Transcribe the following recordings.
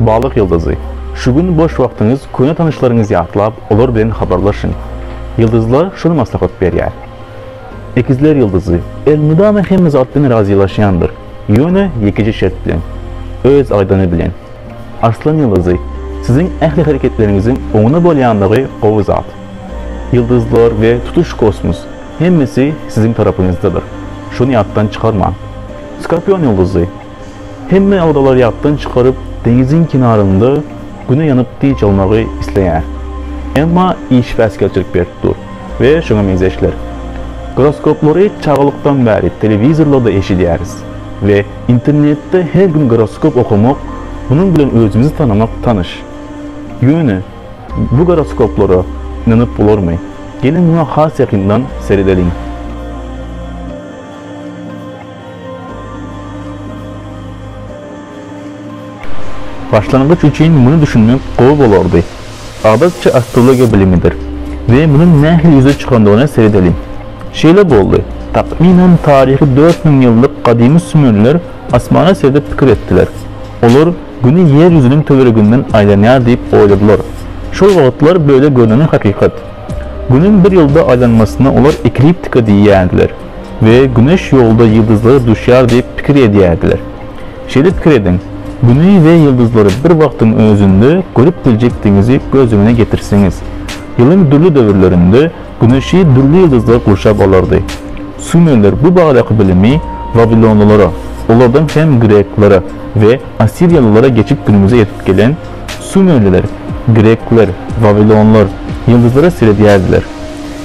Balyk ýyldyzy. Şu gün boş wagtyňyz köne tanyşlaryňyzy ýatlap, olar bilen habarlaşyň. Ýyldyzlar şuny maslahat berýär. Ekizler ýyldyzy. Elmydama hemme zat bilen razylaşýandyr, ýöne ýekeje şert bilen, öz aýdany bilen. Arslan ýyldyzy. Siziň ähli hereketleriňiziň oňuna bolýandygy gowy zat. Ýyldyzlar we tutuş kosmos, hemmesi siziň tarapyňyzdadyr. Şuny ýatdan çykarmaň. Skorpion ýyldyzy. Hemme ýagdaýlar ýatdan çykaryp, deňiziň kenarynda Güne ýanyp dynç almagy isleýär. Emma iş päsgelçilik berip dur we şoňa meňzeşler. Goroskoplary çagalykdan bäri telewizorlarda eşidýäris we internetde her gün goroskop okamak, munuň bilen özümizi tanamak tanyş. Ýöne bu goroskoplara ynanyp bolarmy? Geliň muňa has ýakyndan seredeliň. Başlangyç üçin muny düşünmek gowy bolardy. Adatça astrologiýa bilimidir we munuň nähili ýüze çykandygyna seredeliň. Şeýle boldy, takmynan taryhy dört müň ýyllyk gadymy sümerler asmana seredip pikir etdiler. Olar Güni ýer ýüzüniň töwereginden aýlanýar diýip oýladylar. Şol wagtlar böyle görneni hakykat. Günüň bir ýylda aýlanmasyna olar ekliptika diýýärdiler. we Güneş ýolda ýyldyzlara duşýar diýip pikir edýärdiler. Şeýle pikir ediň, Güni we ýyldyzlary bir wagtyň özünde görüp biljekdigiňizi göz öňüne getirseňiz. Ýylyň dürli döwürlerinde Güneşi dürli ýyldyzlar gurşap alardy. Sumerler bu baradaky bilimi wawilonlylara, olardan hem greklere we assiriýalylara geçip günümize ýetip gelen sumerliler, grekler, wawilonlar ýyldyzlara seredýärdiler.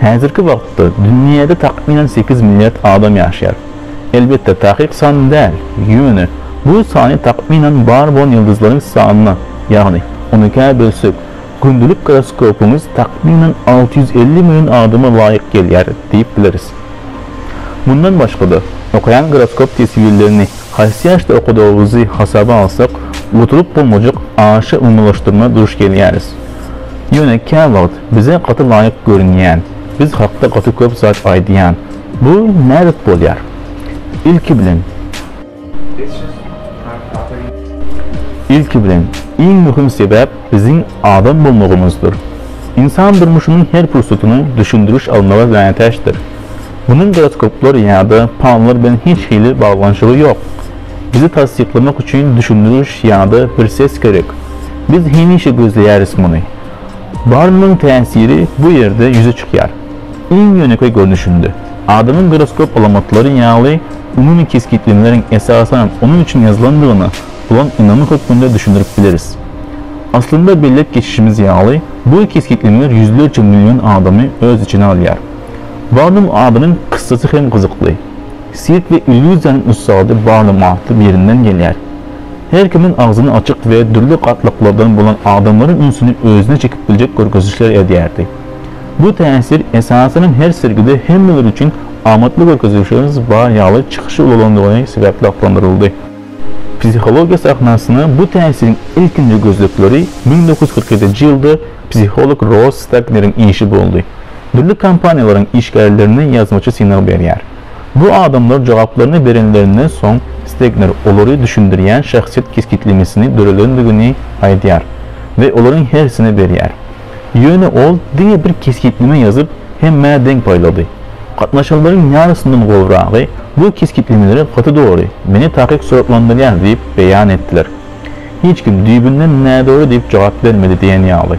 Häzirki wagtda dünýäde takmynan sekiz milliard adam ýaşaýar. Elbetde, takyk san däl, ýöne bu sany takmynan bar bolan ýyldyzlaryň sanyna, ýagny on ikä bölsek, gündelik goroskopymyz takmynan alty ýüz elli million adama laýyk gelýär diýip bileris. Mundan başga-da, okaýan goroskop teswirlerini haýsy ýaşda okadygymyzy hasaba alsak, utulyp bolmajak aşa umumylaşdyrma duş gelýäris. Ýöne käwagt Bize gaty laýyk görünýän, biz hakda gaty köp zat aýdýan. Bu nädip bolýar? Ilki bilen. Ilki bilen, iň möhüm sebäp biziň adam bolmagymyzdyr. Ynsan durmuşynyň her pursatyny düşündiriş almaga mätäçdir. Munuň goroskoplar ýa-da pallar bilen hiç hili baglanyşygy ýok. Bizi tassyklamak üçin düşündiriş ýa-da bir ses gerek. Biz hemişe gözleýäris muny. Barnyň täsiri bu ýerde ýüze çykýar. Iň ýönekeý görnüşinde, adamyň gyroskop alamatlary ýaly umumy kesgitlemeleriň esasan onuň üçin ýazylandygyna bolan ynamy hökmünde düşündirip bileris. Aslynda belläp geçişimiz ýaly, bu kesgitlemeler ýüzlerçe million adamy öz içine alýar. Barnum adynyň kyssasy hem gyzykly. Sirk we illýuziýanyň ussady Barnum atly birinden gelýär. Her kimiň agzyny açyk we dürli gatlaklardan bolan adamlaryň ünsüni özüne çekip biljek görkezişler edýärdi. Bu täsir esasanam her sergide hemmeler üçin amatly görkezişlerimiz bar ýaly çykyşy ulalandygy sebäpli atlandyryldy. Psihologiýa sahnasyna bu täsiriň ilkinji gözlegleri müň dokuz ýüz kyrk ýedinji ýylda psiholog Ross Stagneriň işi boldy. Dürli kompaniýalaryň işgärlerine ýazmaça synag berýär. Bu adamlar jogaplaryny berenlerinden soň, Stegner olary düşündirýän şahsyýet kesgitlemesini döredendigini aýdýar we olaryň hersine berýär. Ýöne ol diňe bir kesgitleme ýazyp, hemmä deň paýlady. Gatnaşanlaryň ýarysyndan gowragy Bu kesgitlemeleri gaty dogry, meni takyk suratlandyrýar diýip beýan etdiler. Hiç kim düýbünden nädogry diýip jogap bermedi diýen ýaly.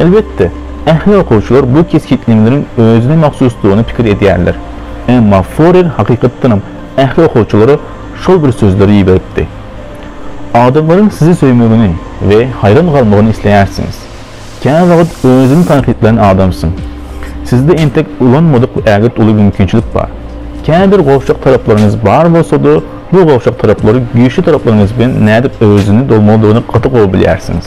Elbetde, ähli okuwçylar bu kesgitlemeleriň özüne mahsusdygyny pikir edýärler. Emma Forer hakykatdanam ähli okuwçylara şol bir sözleri iberipdi. Adamlaryň sizi söýmegini we haýran galmagyny isleýärsiňiz. Käwagt özüňi tankytlaýan adamsyň. Sizde entek ulanmadyk ägirt uly mümkinçilik bar. Käbir gowşak taraplaryňyz bar bolsa-da, bu gowşak taraplary güýçli taraplaryňyz bilen nädip öwezini dolmalydygyny gaty gowy bilýärsiňiz.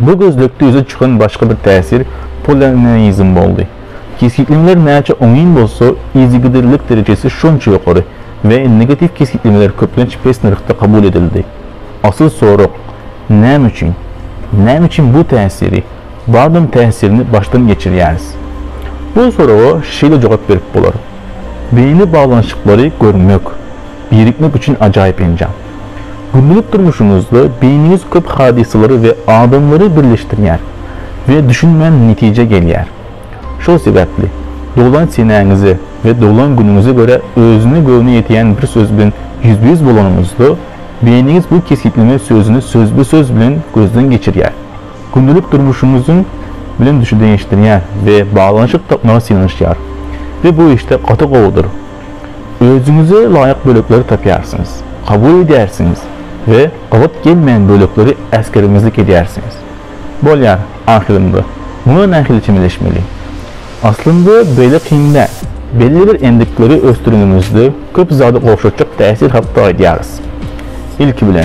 Bu gözlegde ýüze çykan başga bir täsir polarneizm boldy. Kesgitlemeler näçe oňyn bolsa, yzygiderlilik derejesi şonça ýokary we negatiw kesgitlemeler köplenç pes nyrhda kabul edildi. Asyl sorag, Näme üçin? Näme üçin bu täsiri, Babin täsirini başdan geçirýäris? Bu soraga şeýle jogap berip bolar, Beýni baglanyşyklary görmek, birikmek üçin ajaýyp enjam. Gündelik durmuşyňyzda beýniňiz köp hadysalary we adamlary birleşdirýär we düşünmän netijä gelýär. Şol sebäpli doglan senäňize we doglan günüňize görä özüne göwni ýetýän bir söz bilen ýüzbe-ýüz bolanyňyzda, beýniňiz bu kesgitleme sözüni sözbe-söz bilen gözden geçirýär, gündelik durmuşyňyzyň bilen düşündirişdirýär we baglanyşyk tapmaga synanyşýar we bu işde gaty gowudyr. Özüňize laýyk bölekleri tapýarsyňyz, kabul edýärsiňiz we gabat gelmeýän bölekleri äsgermezlik edýärsiňiz. Bolýar, ahyrynda, muňa nähili çemeleşmeli? Aslynda beýle kyn däl. Belli bir endikleri ösdürenimizde köp zady gowşatjak täsir hakda aýdýarys. Ilki bilen.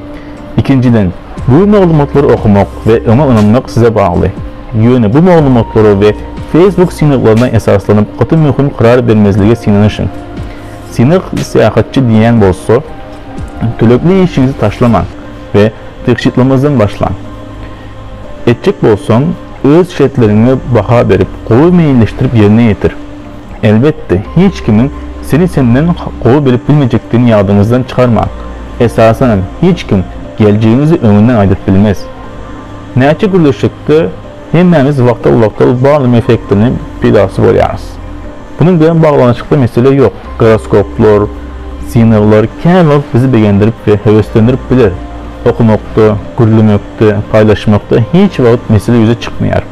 Ikinjiden, bu maglumatlary okamak we oňa ynanmak size bagly. Ýöne bu maglumatlara we Facebook synaglaryna esaslanyp gaty möhüm karar bermezlige synanyşyň. Synag syýahatçy diýýän bolsa, tölegli işiňizi taşlamaň we tygşytlamazdan başlaň. Etjek bolsaň, öz şertleriňe baha berip, gowy meýilleşdirip ýerine ýetir. Elbetde, hiç kimiň sizi senden gowy bilip bilmejekdigini ýadyňyzdan çykarmaň. Esasanam, hiç kim geljegiňizi öňünden aýdyp bilmez. Näçe gürleşsek-de, hemmämiz wagtal-wagtal Barnum effektiniň pidasy bolýarys. Munuň bilen baglanyşykly mesele ýok. Goroskoplar, synaglar kän wagt bizi begendirip we höweslendirip biler. Okamakda, gürlemekde, paýlaşmakda hiç wagt mesele ýüze çykmaýar.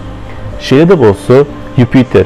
Şeýle-de bolsa, Ýupiter,